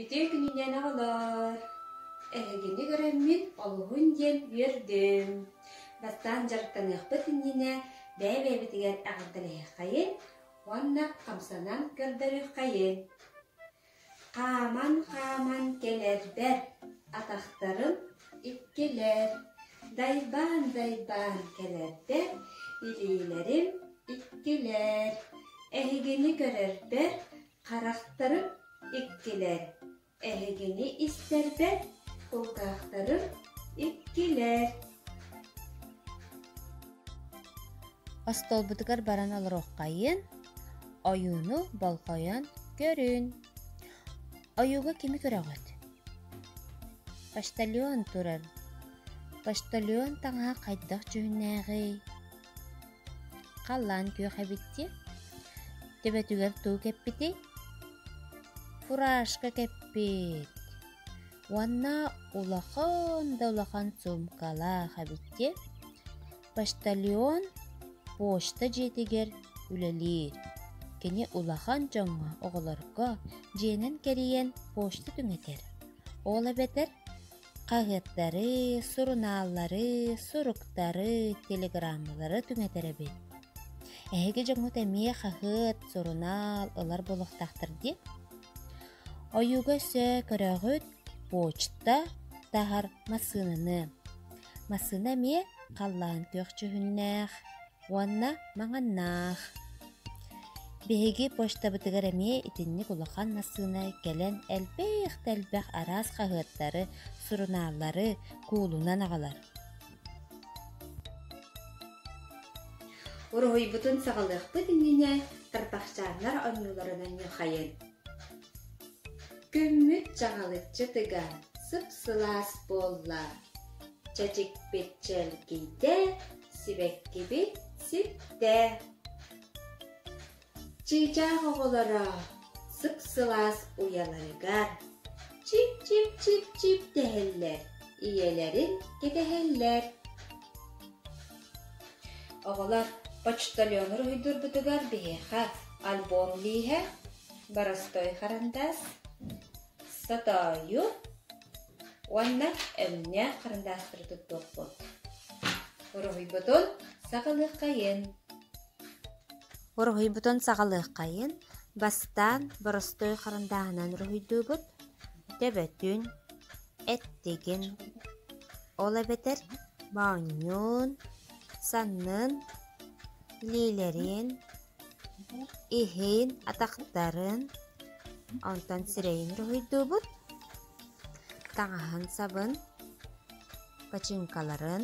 Ити күнүнэн аҕалар, эһигини көрөммүн олуһун диэн үөрдүм. Даттаан дьарыктаныахпыт иннинэ бэйэ-бэйэбитигэр эҕэрдэлэһиэххэйин уонна хамсанан көрдөрүөххэйин. Хааман-хааман кэлэрбэ атахтарым иккилэр дайбаан-дайбаан кэлэрбэ илиилэрим иккилэр эһигини көрөрбөр харахтарым иккилэр эһигини истэрбэр кулгаахтарым иккилэр Остуолбутугар баран олоруоххайын, ойууну болҕойон көрүн. Ойууга кими көрөҕүт? Почтальон турар. Почтальон таҥаһа хайдах дьүһүннээҕий? Халлаан күөх эбиттиэ. Төбөтүгэр туу кэппитий? Фуражка кэппит. Уонна улахан да улахан суумкалаах эбит дии. Почтальон почта дьиэтигэр үлэлиир. Кини улахан дьоҥҥо, оҕолорго дьиэнэн кэрийэн почта түҥэтэр. Ол эбэтэр хаһыаттары, сурунааллары, суруктары, телеграммалары түҥэтэр эбит. Эһиги дьоҥҥут эмиэ хаһыат, сурунаал ылар буолуохтаахтар дии. Ойууга өссө көрөҕүт, почта таһар массыынаны. Массыына эмиэ халлаан күөхчүһүннээх уонна маҥаннаах. Биһиги почтабытыгар эмиэ итинник улахан массыына кэлэн элбэх да элбэх араас хаһыаттары, сурунааллары куулунан аҕалар. Уруһуйбутун саҕалыахпыт иннинэ тарбахчааннар оннуларынан ньухайын. Күммүт чаҕылыччы тыга сып-сылаас буолла, чэчикпит чэлгийдэ, сибэккибит ситтэ. Чыычаах оҕолоро сып-сылаас уйаларыгар чип-чип-чип-чип дэһэллэр, ийэлэрин кэтэһэллэр. Оҕолор почтальону уруһуйдуурбутугар биһиэхэ альбом лииһэ, боростой харандаас, сатоойу уонна өҥнөөх харандаастары туттуохпут. Уруһуйбутун саҕалыаххайын. Уруһуйбутун саҕалыаххайын бастаан боростуой харандааһынан уруһуйдуубут. Төбөтүн, эттигин ол эбэтэр моонньуун саннын илиилэрин иһин атахтарын онтон сирэйин уруһуйдуубут таҥаһын сабын починкаларын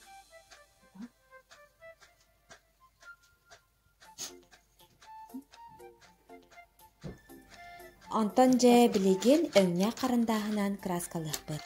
Онтон дьэ билигин өҥҥө харандааһынан кырааскалыахпыт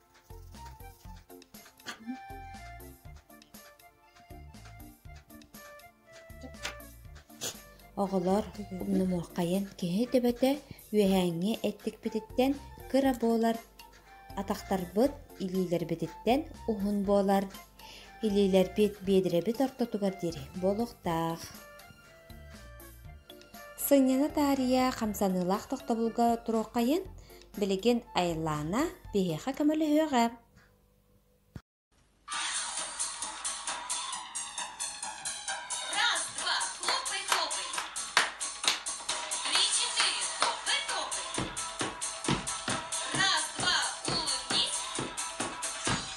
Оҕолор умнумуоххайын киһи төбөтө үөһээҥҥи эттикпититтэн кыра буолар, атахтарбыт илиилэрбититтэн уһун буолар, илиилэрбит биэдирэбит ортотугар диэри буолуохтаах Сынньана таарыйа хамсаныылаах тохтобулга туруоххайын, билигин Айлана биһиэхэ көмөлөһүөҕэ.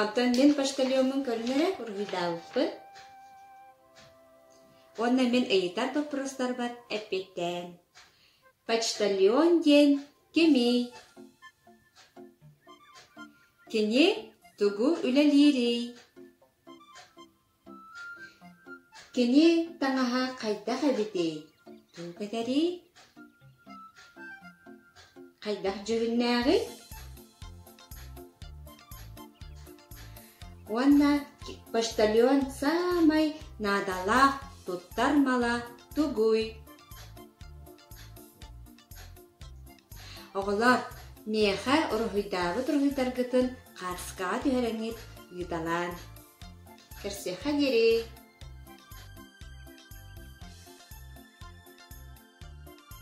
Оттон мин почтальоммун көрүҥ эрэ, уруһуйдаабыппын. Уонна мин ыйытар боппуруостарбар эппиттээн, почтальон диэн кимий? Кини тугу үлэлиирий? Кини таҥаһа хайдах эбитий, туох этэрий, хайдах дьүһүннээҕий? Уонна почтальон саамай наадалаах туттар мала тугуй? Оҕолор, миэхэ уруһуйдаабыт уруһуйдаргытын хаартыскаҕа түһэрэҥҥит ыыталаан. Кэрсиэххэ диэри